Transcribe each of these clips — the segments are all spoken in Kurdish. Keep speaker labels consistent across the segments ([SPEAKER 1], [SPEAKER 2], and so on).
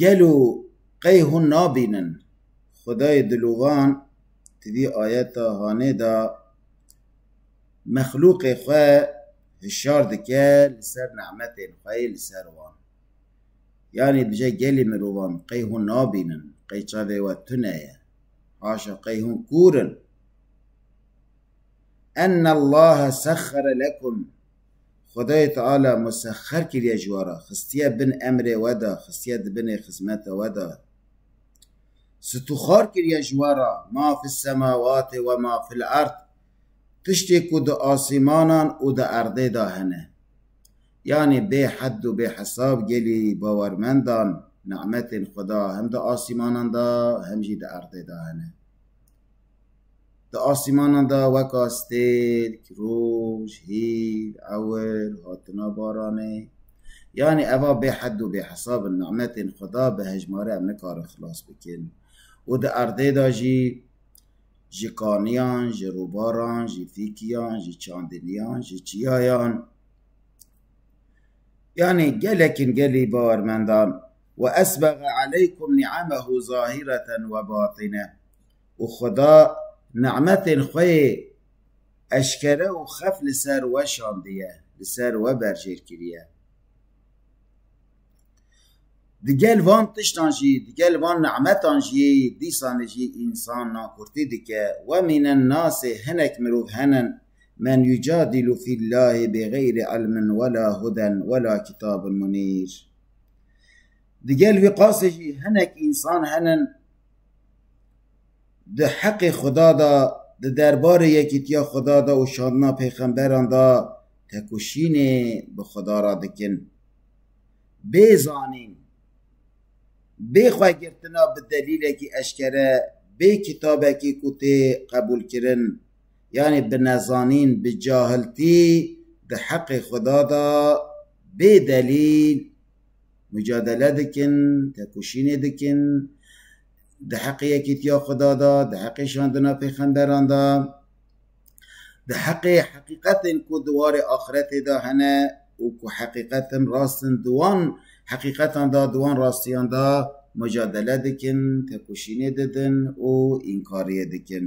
[SPEAKER 1] Gelo qey hûn nabînin Xwedayê dilovan di vî ayeta hanê de mexlûqê xwe hişyar dike li ser nîmetên xwe yê li ser wan? Yanî dije gelê mirovan qey hûn nabînin, qey çavê we tune ye, haşa qey hûn kûr in? Ennallaha sexxere lekum. Xwedayê Teala musexxer kiriye ji we re, xistiye bin emrê we de, xistiye di binê xizmeta we de, situxar kiriye ji we re, ma fî semawatê we ma fîl erd, tiştê ku di asîmanan û di erdê de hene. Yanî bê hed û bê hesab gelî bawermendan ni'metên Xweda hem di asîmanan de hem jî di erdê de hene. Di asîmanan de weka stêrk, roj, hîv, ewir, hatina baranê yanî eva bêhed û bêhesab in nimetên Xweda bi hejmarê em nikarin xilas bikin û di erdê de jî ji kaniyan, ji rûbaran, ji fîkiyan, ji çandiniyan, ji çiyayan yanî gelekîn gelî bawermendan. Weesbege aleykum niamehu zahireten webatine. û Xweda nimetên xwe yê eşkere û xef li ser we şandiye, li ser we berjêr kiriye. Di gel van tiştan jî, di gel van nimetan jî dîsanê jî însan nakurtî dike. We mînin nasê hinek mirov henin men yucadîlu fî llahî bêxeyrî ilmin wela huden wela kîtabin munîr. Di gel wî qasê jî hinek însan henin, Di heqê Xweda de, di derbarê yekîtiya Xweda de û şandina pêxemberan de tekoşînê bi Xweda re dikin. Bê zanîn, bê xwe girtina bi delîlekî eşkere, bê kitabekî ku tê qebûlkirin, yanî bi nezanîn, bi cahiltî di heqê Xweda de bê delîl Mucadele dikin, têkoşînê dikin di heqê yekîtiya Xuda de, di heqê şandina pêxemberan de, di heqê heqîqetên ku di warê axiretê de hene û ku heqîqetin rast in di wan heqîqetan de, di wan rastiyan de mucadele dikin, têkoşînê didin û înkariyê dikin.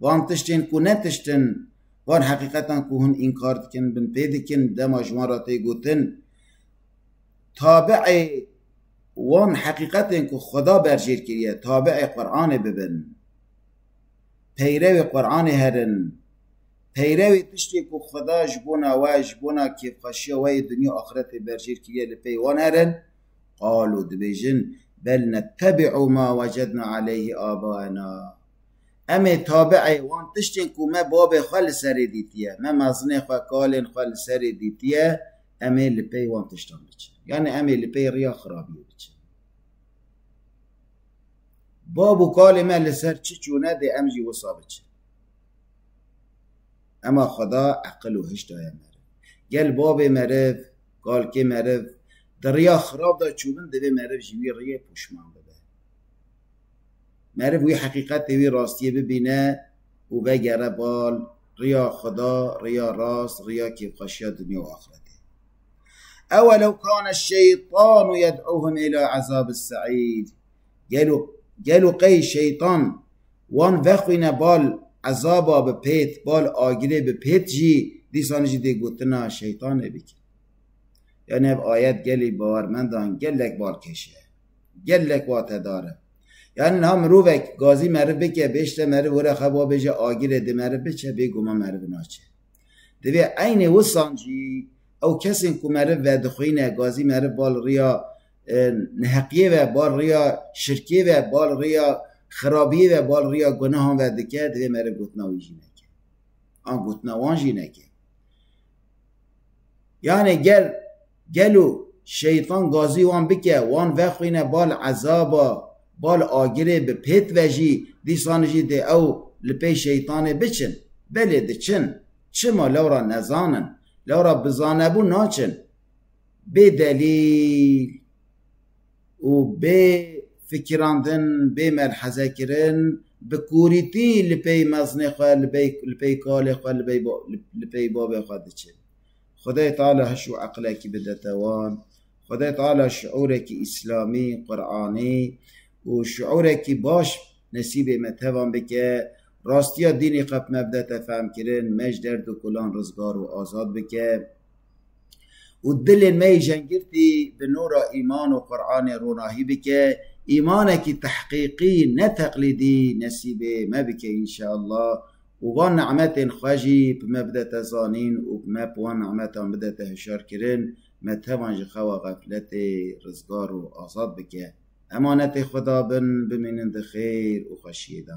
[SPEAKER 1] Van tiştên ku ne tişt in, van heqîqetan ku hûn înkar dikin, binpê dikin, dema ji wan re tê gotin, tabiê wan heqîqetên ku Xweda berjêr kiriye, tabiê Quranê bibin, peyrewê Quranê herin, peyrewê tiştê ku Xweda ji bona we, ji bona kêfxweşiya we yê dinya û axretê berjêr kiriye li pey wan herin, qalû dibêjin, bel nettebî'û ma wecedna aleyhî abaena. Em ê tabi'ê wan tiştên ku me bavê xwe li serê dîtiye, me mezinê xwe, kalên xwe li serê dîtiye, em ê li pey wan tiştan biçin. Yanî em ê li pey riya xirabiyê biçin. Bav û kalên me li ser çi çûne dê em jî wisa biçin. Ema Xweda eqil û hiş daye meriv. Gel bavê meriv, kalkê meriv di riya xirab de çûbin divê meriv ji wî riyê poşman bibe. Meriv wî heqîqetê, wî rastiyê bibîne û vegere bal riya Xweda, riya rast, riya kêfxweşiya dinya û axretê. Ewe lew kane şeytanu yed'uhum îlâ ezabis se'îr. Gelo gelo qey şeytan wan vexwîne bal ezaba bi pêt, bal agirê bi pêt jî, dîsan jî dê gotina şeytanê bikin. Yanî ev ayet gelê bawermendan gelek balkêş e. Gelek watedar e. Yanî niha mirovek gazî meriv bike, bêşte meriv were xwe ba bêje agirê di meriv biçe, bêguman meriv naçe. Divê eynê wisan jî ew kesên ku meriv vedixwîne, gazî meriv ba li riya neheqiyê ve, ba li riya şirkê ve, ba li riya xirabiyê ve, ba li riya gunehan ve dike, divê meriv gotina wî jî neke. An gotina wan jî neke. Yanî gel Gelo Şeytan gazî wan bike, wan vexwîne bal ezaba, bal agirê bi pêt ve jî, dîsan jî dê ew li pey Şeytanê biçin? Belê diçin. Çima? Lewra nezanin. Lewra bi zanebûn naçin. Bê delîl û bê fikirandin, bê melhezekirin bi kûrîtî li pey mezinê xwe, li pey kalê xwe, li pey bavê xwe diçin. Xwedayê Teala hiş û eqlekî bide te wan. Xwedayê Teala şiûrekî îslamî, quranî û şiûrekî baş nesîbê me tevan bike. Rastiya dînî qet me bide te fehmkirin, me ji derd û kulan rizgar û azad bike û dilên me yê jengirtî bi nûra îman û quranê ronahî bike. Îmanekî tehqîqî ne teqlîdî nesîbê me bike înşeallah. Û van ni'metên xwe jî bi me bidete zanîn û bi me bi wan ni'metan bidete hişyarkirin, me tevan ji xewa xefletê rizgar û azad bike. Emanetê xwe dabin, bimînin di xêr û xweşiyê de.